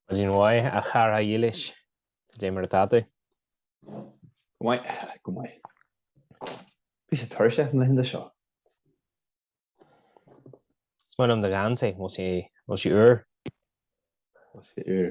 Maidin mhaith a chara dhílis cad é mar atá tú? Go maith, go maith. Píosa tuirseach na laethe seo. Is maith liom do gheansaí, bhfuil sé úr? Bhfuil sé úr?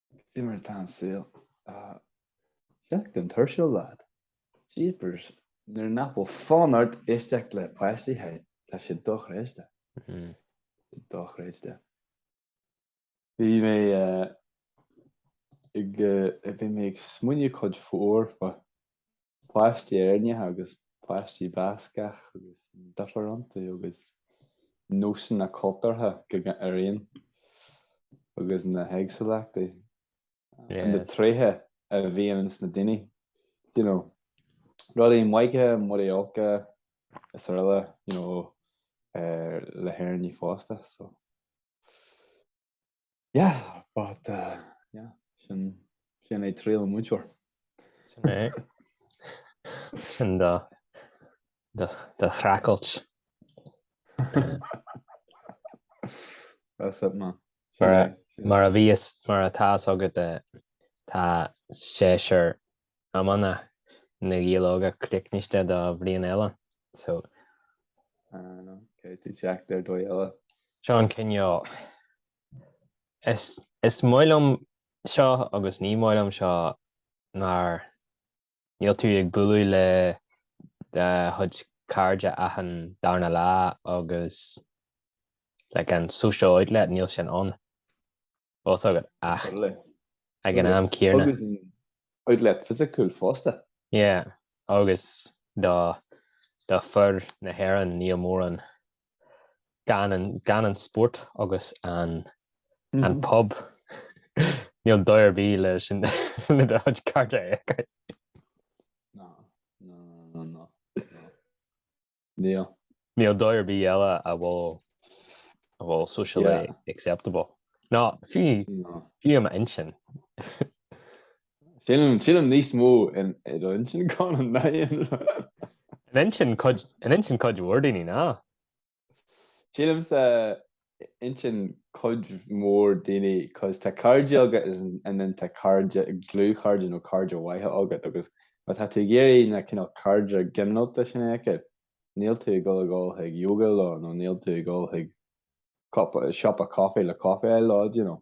Cad é mar atá an saol? Seachtain thuirsiúil lad. Jeepers, nuair nach bhfuil fonn ort éisteacht le páistí hey, tá sé dochreidte. Hmm. Dochreidte. Bhí mé eh, ag eh, bhí mé ag smaoineamh cuid mhór fá páistí Éireannacha agus páistí Bascach agus difríochtaí agus nósanna cultúrtha acu araon agus na héagsúlachtaí and na tréithe a bhíonn ins na daoine, you know, rudaí maithe, rudaí olca is araile, you know, ar le hÉireannaigh fosta, so. Yeah but uh, yeah sin sin é triail an múinteoir. Sin é. Sin do do do streachailt. That's it man. Mar a bhíos mar atá a fhios agat eh, tá séasúr iomána Na Gaeil Óga críochnaithe do bhliain eile. So. Anam, caithfidh tú teacht ar dóigh eile. Seo an cineál, Is is maith liom seo agus ní maith liom seo mar níl tú ag bualadh le do chuid cairde achan darna lá agus like an social outlet níl sin ann. Fhios agat ach ag an am céarna. Agus an outlet fisiciúil fosta. Yeah, agus do do fir na hÉireann níl mórán gan an gan an spórt agus an an pub. Níl dóigh ar bith leis an le do chuid cairde a fheiceáil. Ná, ná, ná, ná, ná. Níl. Níl dóigh ar bith eile a bhfuil a bhfuil socially yeah. acceptable. Nó fiú fiú i m'intinn. Sílim sílim níos mó in intinn gan an na. In intinn in intinn cuid mhór daoine ná. Sílim sa intinn cuid mhór daoine cos tá cairde agat and then tá cairde dlúthchairde nó cairde maithe agat agus má tá tú ag iarraidh na cineál cairde ginearálta sin a fheiceáil níl tú ag dul a ghabháil chuig yoga leo nó níl tú ag gabháil chuig siopa caife le caife a fháil leo you know.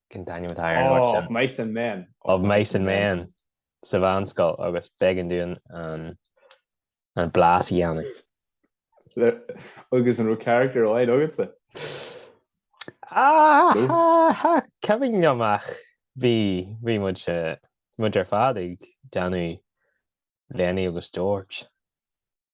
Can Daniel Matt Iron Horse Of Mice and Men Of Mice and Men sa mheánscoil agus b'éigean dúinn an an blas a dhéanamh. Agus an raibh character amháin agatsa? Cha chuimhin liom ach bhí bhí muid muid ar fad ag déanamh Lenny agus George.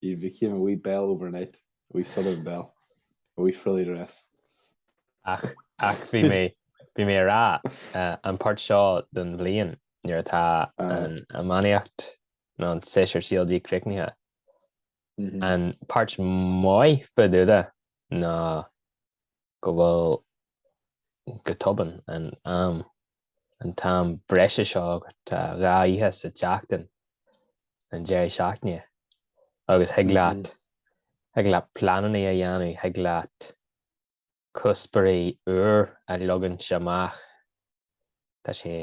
He became a wee belle overnight, a wee southern belle, a wee frilly dress. Ach, ach bhí mé, bhí mé a rá, an páirt seo don bhliain nuair atá an iománaíocht nó an séasúr CLG críochnaithe, an páirt maith fadúda ná go bhfuil go tobann an am an t-am breise seo tá dhá oíche sa tseachtain an deireadh seachtaine agus thig leat thig leat pleananna a dhéanamh thig leat cuspóirí úr a leagaint amach tá sé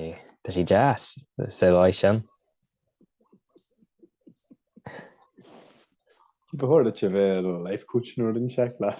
tá sé deas sa dóigh sin. Ba chóir duit a bheith ar an life coach nuair a rinne seic leat.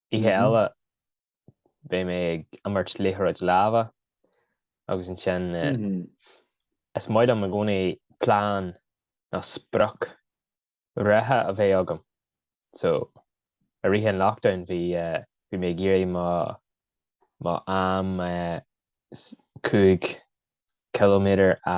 Oíche eile beidh mé ag imirt liathróid láimhe agus ansin is maith liom i gcónaí plean nó sprioc reatha a bheith agam. So, i rith an lockdown bhí mé ag iarraidh mo am cúig ciliméadar a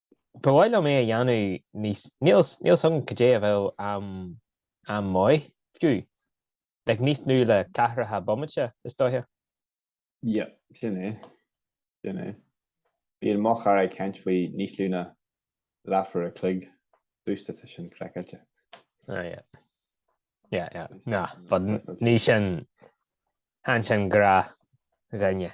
Ba mhaith liom é a dhéanamh níos, níl, níl 's agam cad é a bheadh am, am maith, fiú. Like, níos nú le ceathracha bomaite, is dóiche. Yeah, sin é, sin é. Bíonn mo chara ag caint faoi níos lú na leathuair a chloig domhsa tá sin craiceáilte. Ah, yeah. Yeah, yeah. Nah, but ní sin, chan sin gach duine.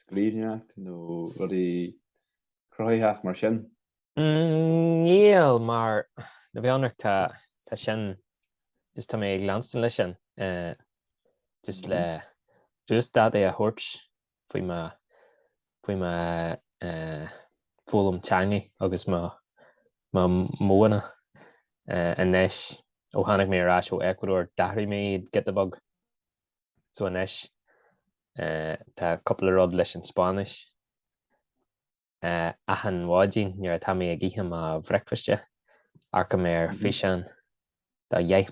scríbhneoireacht nó rudaí cruthaitheach mar sin? Níl, mar go bhfionnrach tá tá sin just tá mé ag leanstan leis sin eh, just le uasdátú a thabhairt faoi mo faoi mo eh, foghlaim teangaí agus mo mo modhanna eh, anois ó tháinig mé ar ais ó Ecuador d'athraigh mé iad giota beag. So anois, eh, tá cúpla rud leis an Spáinnis. Eh, achan mhaidin nuair atá mé ag ithe mo bhricfeasta, amharcaim ar mm-hmm. físeán dá dheich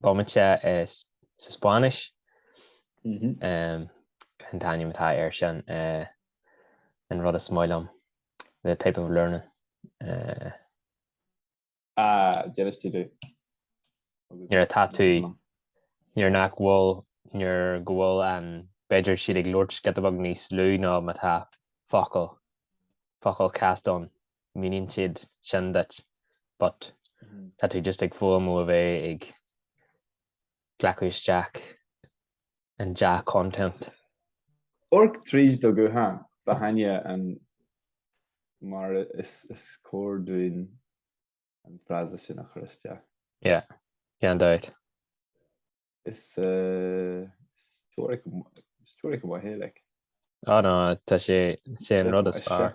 bomaite is sa Spáinnis. Mm-hmm. Um, an t-ainm atá ar sin uh, an rud is maith liom, the type of learning. Uh, Ah, jealous di di. Nuair atá tú, nuair nach bhfuil, nuair go bhfuil an, b'fhéidir siad ag labhairt giota beag níos lú ná má tá focal, focal casta ann, míníonn siad sin duit, but tá tú just ag faomhadh a bheith ag, glacadh isteach an dea-content. Amharc tríd do ghuthán. Ba haithne an mar is, is cóir dúinn an frása sin a chur isteach. Yeah, gan dabht. Is teoiric go maith é, like. Á ná, tá sé an rud is fearr.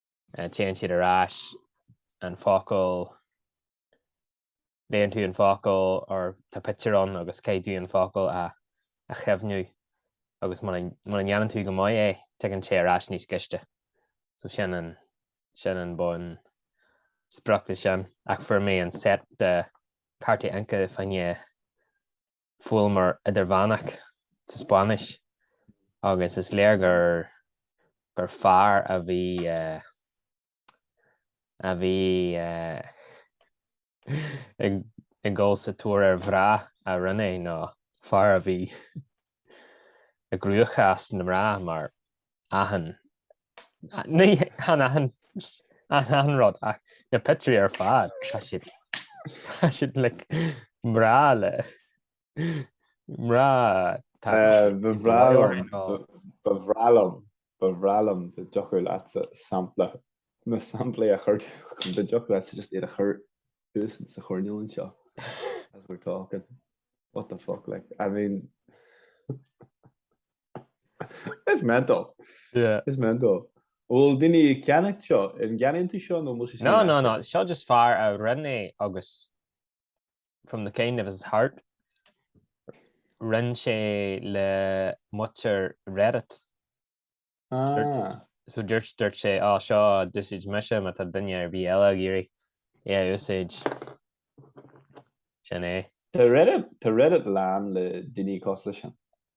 Téann siad ar ais an focal, léann tú an focal or tá pictiúr ann agus caithfidh tú an focal a chuimhniú agus mura ndéanann tú go maith é tigeann sé ar ais níos gaiste. So sin an, sin an bunsprioc leis sin. Ach fuair mé an set de cártaí Anki fá choinne focail mar idirmheánach sa Spáinnis agus is léir gur gur fear a bhí a bhí ag dul sa tóir ar mhná a rinné nó fear a bhí ag crúcháil na mná mar. achan ní chan achan an achan rud ach na pictiúirí ar fad tá siad tá siad le mná le mná tá Eh, ba bhreá bhreá liom- orainn, ó. ba- ba bhreá liom- ba bhreá liom dá dtiocfadh leatsa sampla na samplaí a chur dá dtiocfadh leatsa just iad a chur thuas sa choirnéal anseo as we're talking what the fuck like I mean It's mental. Yeah. It's mental. Bhfuil daoine ag ceannacht seo an gceannaíonn tú seo nó bhfuil sé No, no, no. Seo just fear a rinne é agus from the kind of his heart rinn sé é le muintir Reddit. Ah. So dúirt dúirt sé á seo d'úsáid mise má tá duine ar bith eile ag iarraidh é a úsáid sin é. Tá Reddit tá Reddit lán le daoine cosúil leis sin.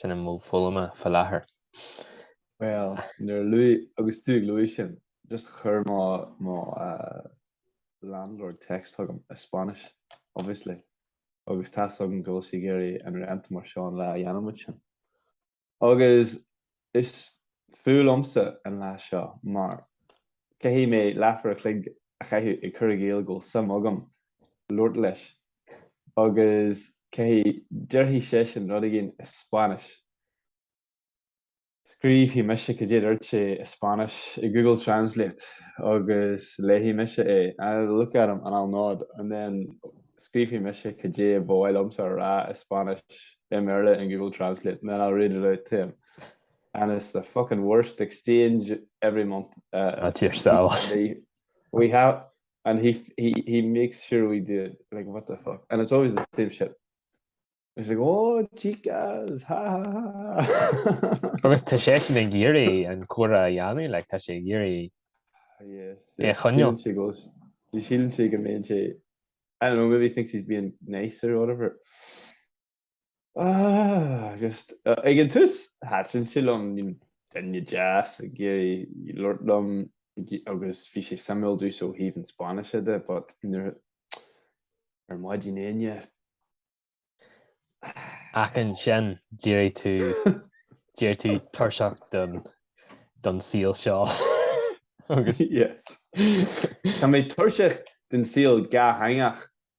sin an modh foghlama fá lathair. Bhuel, nuair a luaigh, agus tú ag lua sin, just chuir mo, mo landlord text chugam i Spanish, obviously, agus tá's agam go bhfuil sí ag iarraidh an rent mar seo an lá a dhéanann muid sin. Agus is fuath liomsa an lá seo mar caithfidh mé leathuair an chloig a chaitheamh ag cur i gcéill go bhfuil suim agam labhairt leis agus caithfidh, déarfaidh seisean rud éigin i Spáinnis, scríobfaidh mise cad é a dúirt sé i Spáinnis i Google Translate agus léifidh mise é, I'll look at him and I'll nod and then scríobfaidh mise cad é ba mhaith liomsa a rá i Spáinnis i mBéarla in Google Translate and then I'll read it out to him. And it's the fucking worst exchange every month. Uh, That's yourself. We have and he he he makes sure we do it like what the fuck and it's always the same shit it's like oh chicas ha ha ha agus tá seisean ag iarraidh an comhrá a dhéanamh like tá sé ag iarraidh é choinneáil sílim sé go mbeidh sé I don't know maybe he thinks he's being nice or whatever Just ag an tús thaitin sé liom, bhí duine deas ag iarraidh labhairt liom agus bhí sé suimiúil domsa ó thaobh an Spáinnise de but ar maidin Dé hAoine, Ach ansin d'éireodh tú, d'éireodh tú tuirseach don, don saol seo agus. yes. Tá mé tuirseach den saol dátheangach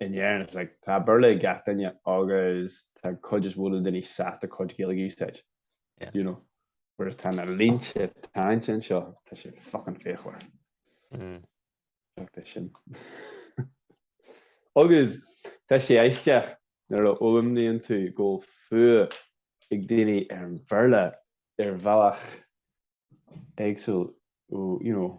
in Éirinn it's like, tá Béarla ag gach duine agus tá an chuid is mó na ndaoine sásta cuid Gaeilge a úsáid, do you know, whereas tá na línte teannta anseo, tá sé fucking fíochmhar. Fuck this shit. Agus tá sé aisteach nuair a fhoghlaimníonn tú go bhfuil fuath ag daoine ar an Bhéarla ar bhealach éagsúil, you know,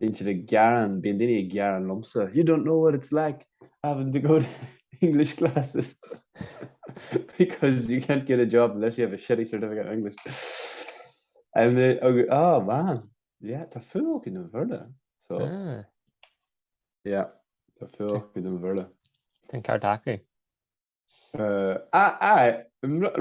Bíonn siad ag gearán, bíonn daoine ag gearán liomsa, You don't know what it's like having to go to English classes because you can't get a job unless you have a shitty certificate in English. And they, agus, oh man, yeah, tá fuath acu don Bhéarla. So, Ah, yeah, tá fuath acu don Bhéarla. Tá an ceart acu. a fháil,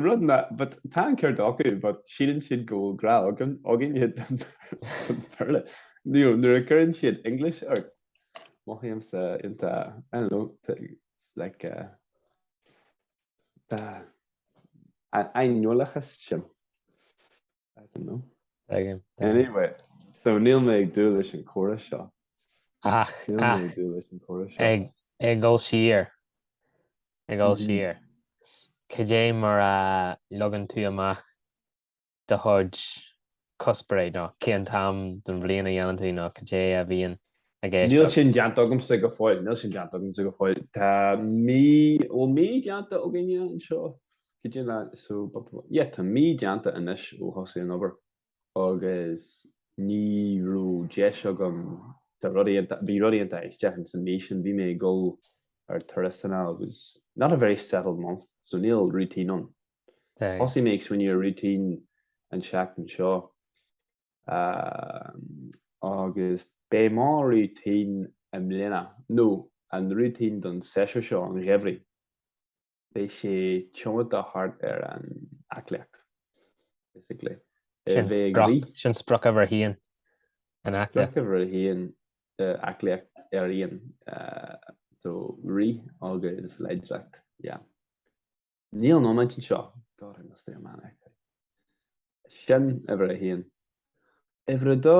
rud ná but tá an ceart acu but síleann siad go bhfuil grá againn againne don don Bhéarla. You know, nuair a chuireann siad English ort, mothaímse in the, I don't know, the, it's like uh, the, an aineolachas sin. I don't know. Dáiríre, dáiríre. Anyway, so níl mé ag dúil leis an córas seo. Ach, Níl mé ach, ag dúil leis an córas seo. ag, ag dul siar, ag dul Mhm. siar, cad é mar a leagann tú amach do chuid cusparí nó cén t-am den bhliain a dhéanann tú nó cad é a bhíonn i gceist? Níl sin deanta agamsa go fóill, níl sin deanta agamsa go fóill. Tá mí, bhfuil mí deanta againne anseo? Tá mí déanta anois ó thosaigh an obair agus ní raibh deis agam, bhí rudaí iontach aisteach ins an mí sin, bhí mé ag dul ar turasanna agus not a very settled month so níl routine ann. Thosaigh mé ag smaoineamh ar routine an tseachtain seo agus beidh mo routine i mbliana, nó an routine don séasúr seo an gheimhridh, Beidh sé cumtha thart ar an aclaíocht, basically. Sin sprioc uimhir a haon an aclaíocht. Sprioc uimhir a haon an aclaíocht ar aon so rith agus láidreacht, yeah. Níl an iomáint anseo, God I miss the iománaíocht. Sin uimhir a haon. Uimhir a dó,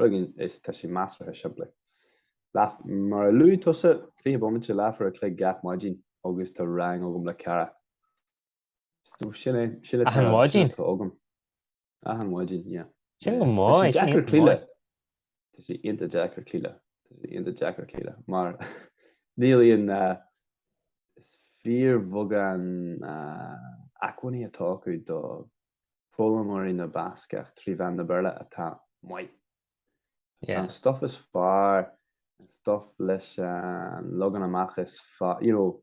Rogainn is tá sé measartha simplí. Mar a luaigh tusa, fiche bomaite leathuair a chloig gach maidin agus tá rang agam le cara. So sin é, sin atá, Achan maidin? atá agam. Achan maidin, yeah. Sin go maith, Tá sé, sin deacair iontach cloí leis. maith. Tá sé iontach deacair cloí leis. Tá sé iontach deacair cloí leis. Mar níl aon, ah, is fíorbheagán, ah, acmhainní atá acu do foghlaimeoirí na Bascach trí mheán na Béarla atá maith. Tá an stuff is fearr, an stuff leis an leagan amach is fearr, you know,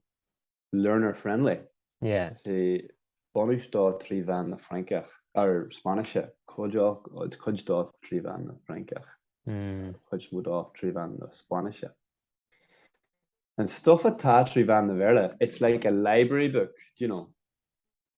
learner friendly. Yeah. Sé bunús dó trí mheán na Francach, er Spáinnise, cuid dó trí mheán na Francach, hmm. cuid mhór dó trí mheán na Spáinnise. An stuff atá trí mheán na Béarla, it's like a library book, you know.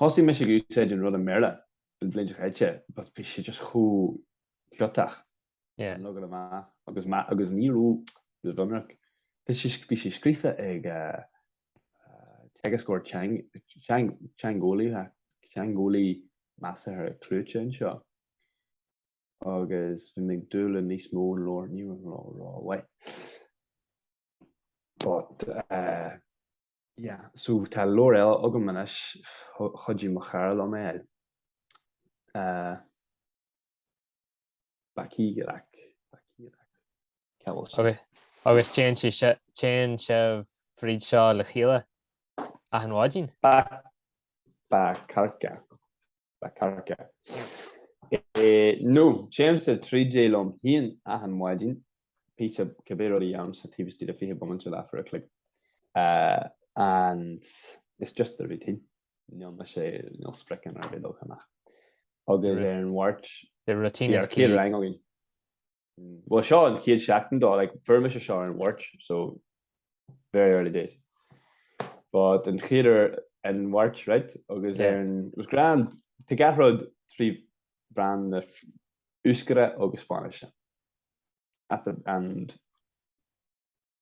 Thosaigh mise ag úsáid an rud i mBéarla an bhliain seo chaite but bhí sé just chomh ciotach an leagan amach agus ní raibh ionraic, bhí sé scríofa ag teagascóir teangeolaí measartha cliúiteach anseo agus bhí mé ag dúil le níos mó ón leabhar ní raibh mé ag rá uait but. Yeah, so tá leabhar eile agam anois, chuidigh mo chara liom é a fháil, Bacíreac, Bacíreac, cé bhfuil sé? Agus, agus téann sí si, téann sibh fríd seo le chéile achan mhaidin? Bac, Bakarka, Bakarka. E, no, téimse tríd é liom féin achan mhaidin, píosa cibé rud a dhéanaimse taobh istigh de fiche bomaite leathuair a chloig. Eh, and it's just the routine, níl mise, níl spriocanna ar bith leagtha amach. Agus ar an Mháirt, The routine is bíonn key. rang againn. Bhuel, seo an chéad seachtain dó, like, fuair mise seo ar an Mháirt, so very early days. But an chéad uair ar an Mháirt, right, agus ar an, it was grand, tá gach rud trí mheán na Euskara agus Spáinnise. At the, and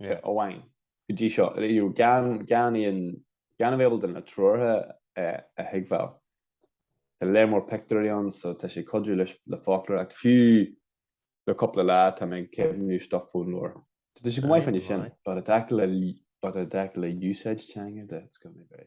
amháin go dtí seo gan a bheith ábalta na treoracha a thuigbheáil. Tá léar mór pictiúirí ann so tá sé ag cuidiú leis le foclóir ach fiú le cúpla lá tá mé ag cuimhniú stuff ón leabhar. Tá sé go maith fá choinne sin but i dtaca le usage teanga de gonna be.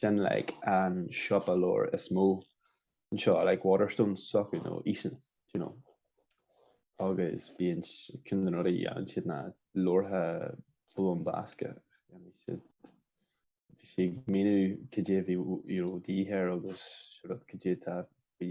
sin like an siopa leabhar is mó anseo like Waterstones s'acu nó Easons do you know agus bíonn ceann de na rudaí a dhéanann siad ná leabharthaí foghlaim Bascaise dhéanann siad bhí siad ag míniú cad é a bhí you know, de dhíth air agus sort of cad é atá bhí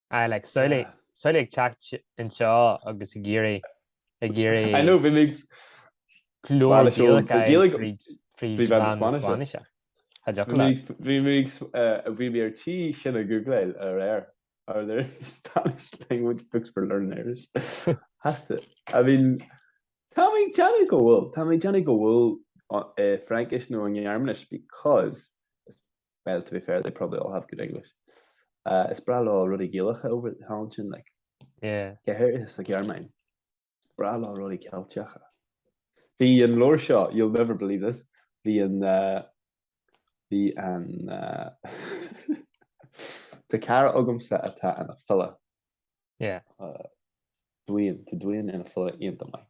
I like samhlaigh samhlaigh ag teacht anseo agus ag iarraidh ag iarraidh I know bhí mé leabhar Gaeilge fríd Spáinnis Tá deoch le Bhí mé bhí mé ar tí sin a googláil aréir Are there Spanish language books for learners? Has to I mean Tá mé ag déanamh go bhfuil Tá mé ag déanamh go bhfuil Fraincis nó an Ghearmáinis because Well, to be fair, they probably all have good English. Uh, is breá leo rudaí Gaelacha over thall ansin, like. Yeah. Go háirithe sa Ghearmáin. Breá leo rudaí Ceilteacha. Bhí an leabhar seo, you'll never believe this, bhí an... Uh, bhí an... Uh, Tá cara agamsa atá ina fhile. Yeah. Uh, Dubhán, tá Dubhán ina fhile iontach maith.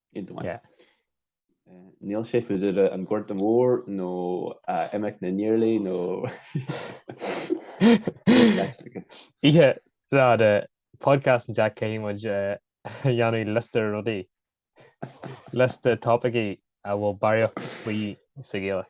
Níl sé fá dtaobh den Ghorta Mhór nó Imeacht na nIarlaí nó Oíche Fhada, podcast an Jack caithfidh muid a dhéanamh liosta rudaí, liosta topaicí a bhfuil barraíocht faoi sa Ghaeilge.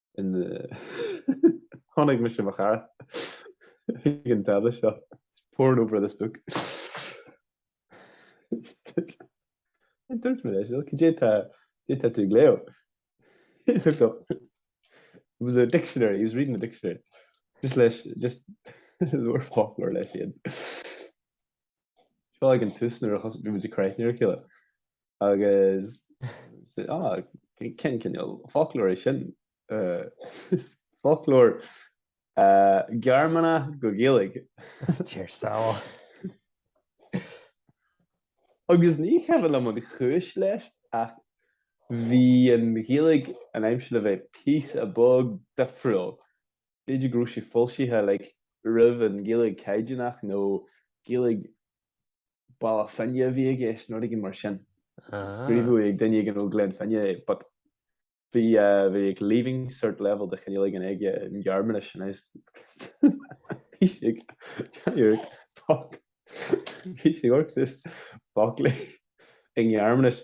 in tháinig mise ar mo chara ag an tábla seo poring over this book dúirt mé leis cad é atá tú ag léamh It was a dictionary he was reading a dictionary just leis just ag léamh foclóir leis siad Seo ag an tús nuair a thosaigh muid ag cur aithne ar a chéile Agus cén cineál foclóir é sin? Foclóir Gearmáine go Gaeilge. Mar shampla. Agus ní cuimhin liom an chúis leis ach bhí an Ghaeilge an, am, it seemed le bheith píosa beag difriúil. B'fhéidir go raibh sé foilsithe roimh an Ghaeilge Caighdeánach nó Gaeilge Baile Finne a bhí aige nó rud éigin mar sin. Scríobhadh ag duine éigin ó Ghleann Fhinne é but bhí bhí ag leaving cert level de chineál éigin aige i nGearmáinis and I was bhí sé ag déanamh iarracht foc bhí sé ag lorg just focla i nGearmáinis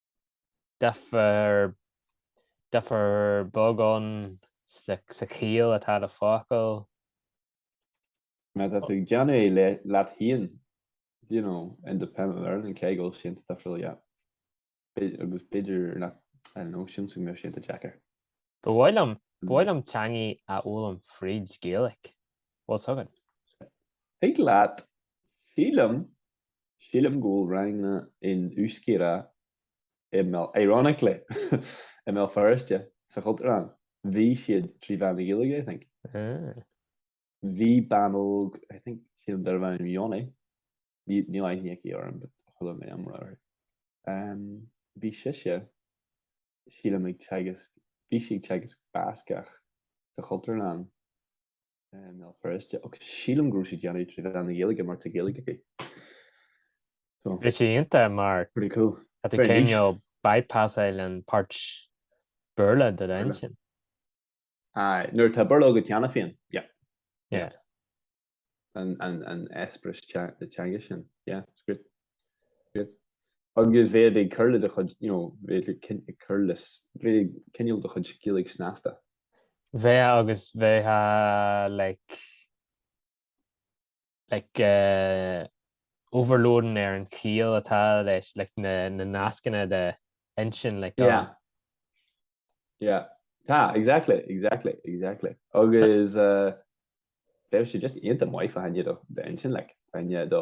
Difear difear beag ann sna sa chiall atá le focail. Má tá tú ag déanamh é leat féin, do you know, independent learning, cá bhfuil sin tá difriúil leat? B'fhéidir, agus b'fhéidir nach, I don't know, sin sin go mbeadh sé iontach deacair. Ba mhaith liom, ba mhaith liom teangaí a fhoghlaim fríd Gaelic. Bhfuil, tugann. Thig leat, sílim, Sílim go bhfuil ranganna in Euskera i mBéal, ironically, i mBéal Feirste sa Chultúrlann. Bhí siad trí mheán na Gaeilge, I think. Ah. Bhí bean óg, I think, sílim darb ainm Yoni, níl aithne aici orm, but chuala mé iomrá uirthi. Um, bhí sise, sílim ag teagasc, bhí sí ag teagasc Bascach sa Chultúrlann. i mBéal Feirste, ach sílim go raibh sí déanamh trí mheán na Gaeilge mar tá Gaeilge aici. So. Bhí sé iontach mar. Pretty cool. Tá tú cineál bypassáil an pháirt Béarla de d'inchinn. Aye, nuair atá Béarla agat cheana féin, yeah. Yeah. An eispéireas teanga sin, yeah, it's great. Great. Agus bheadh ag cur le do chuid, you know, bheadh ag cur le, bheadh ag coinneáil do chuid Gaeilge snasta. bheadh agus bheadh like like uh, overloading ar an chiall atá leis like na, na nascanna i d'inchinn like yeah. Um, yeah. Tá exactly exactly exactly agus uh, deir sé just iad an maifa haine do d'inchinn le aine do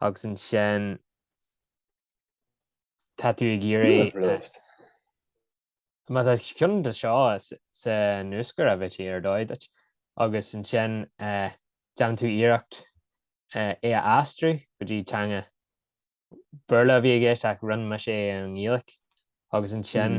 agus ansin tá tú ag iarraidh má tá ceann de seo san uachtar a bheith ar dóigh duit agus ansin déanann tú iarracht é a aistriú go dtí teanga, Béarla a bhí i gceist ach rinne mise é i nGaeilge agus ansin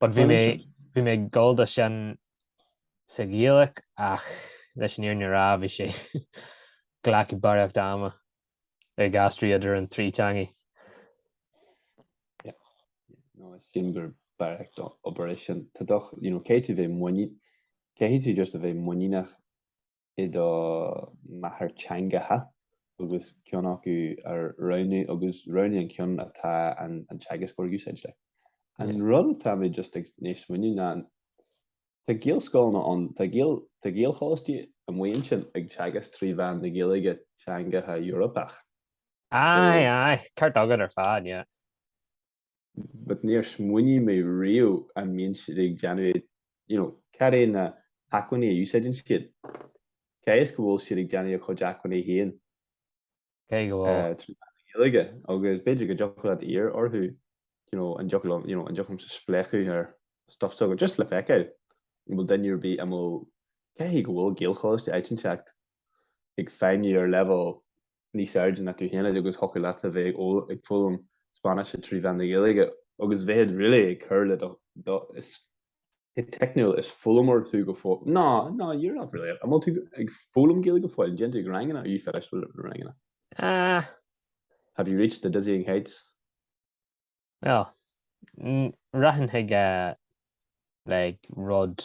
But bhí mé bhí mé ag gabháil dó sin sa Ghaeilge ach leis an fhírinne a rá bhí sé ag glacadh barraíocht ama ag aistriú idir an trí teangaidh. No, sin barraíocht obair é sin. Tá do, you know, caithfidh tú bheith muinín, caithfidh tú just a bheith muiníneach i do mháthairtheangacha agus ceann acu a roghnú agus roghnaigh an ceann atá an teagascóir ag úsáid leat. An rud atá mé just i ndiaidh smaoineamh ná tá gaelscoileanna ann, tá gael, tá gaelcholáistí amuigh ansin ag teagasc trí mheán na Gaeilge teangacha Eorpach. Aye, aye, ceart agat ar fad, yeah. but níor smaoinigh mé riamh an mbíonn siad ag déanamh é, you know, cad é na hacmhainní a úsáideann siad, caithfidh sé go bhfuil siad ag déanamh a gcuid acmhainní féin. Caithfidh go bhfuil. Eh, trí mheán na Gaeilge agus b'fhéidir go dtiocfadh leat iarr orthu, you know, an dtiocfadh liom, you know, an dtiocfadh liomsa spléachadh ar stuff s'agaibh just le feiceáil an bhfuil duine ar bith amuigh, caithfidh go bhfuil Gaelcholáiste áit inteacht ag feidhmiú ar leibhéal níos airde ná tú féin agus thiocfadh leatsa bheith ag foghlaim Spáinnise trí mheán na Gaeilge agus bheith really ag cur le do, is go teicniúil, is foghlaimeoir tú go fóill, no, no, you're not really, an bhfuil tú ag foghlaim Gaeilge go fóill, an dtéann tú chuig ranganna, are you finished with the ranganna? Ah. Have you reached the dizzying heights? Well, rachainn chuig uh, like rud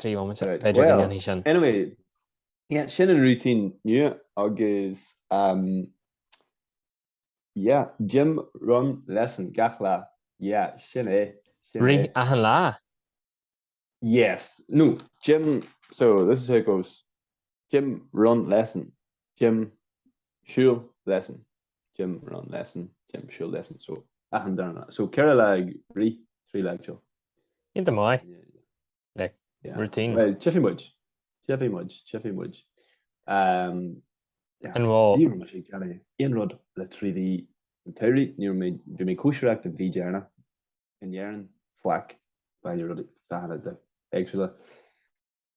trí bhomaite, b'fhéidir, go ndéanfaidh sin. Bhuel, anyway, yeah, sin an routine nua agus, um, yeah, gym run lesson gach lá, yeah, sin é, sin é. Rith achan lá? Yes, no, gym, so this is how it goes, gym run lesson, gym siúl lesson, Gym run lesson gym siúl lesson so achan darna so ceithre lá ag rith trí lá ag siúl. Iontach maith, yeah, routine. Bhuel tchífidh muid tchífidh muid tchífidh muid um, And well. Ní raibh mé ag déanamh aon rud le trí mhí i ndáiríre ní raibh mé bhí mé ag cóisireacht an mhí dheireanach in Éirinn faic bainne rudaí feadhna de éagsúla.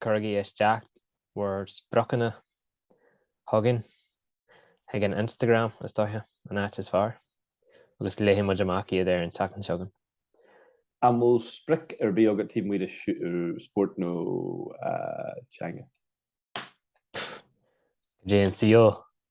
Cuirigí isteach bhur spriocanna chugainn chuig an Instagram, is dóiche, an áit is fearr, agus léifidh muid amach iad ar an tseachtain seo chugainn. An bhfuil sprioc ar bith agat taobh amuigh de spórt nó teanga? Go dté an saol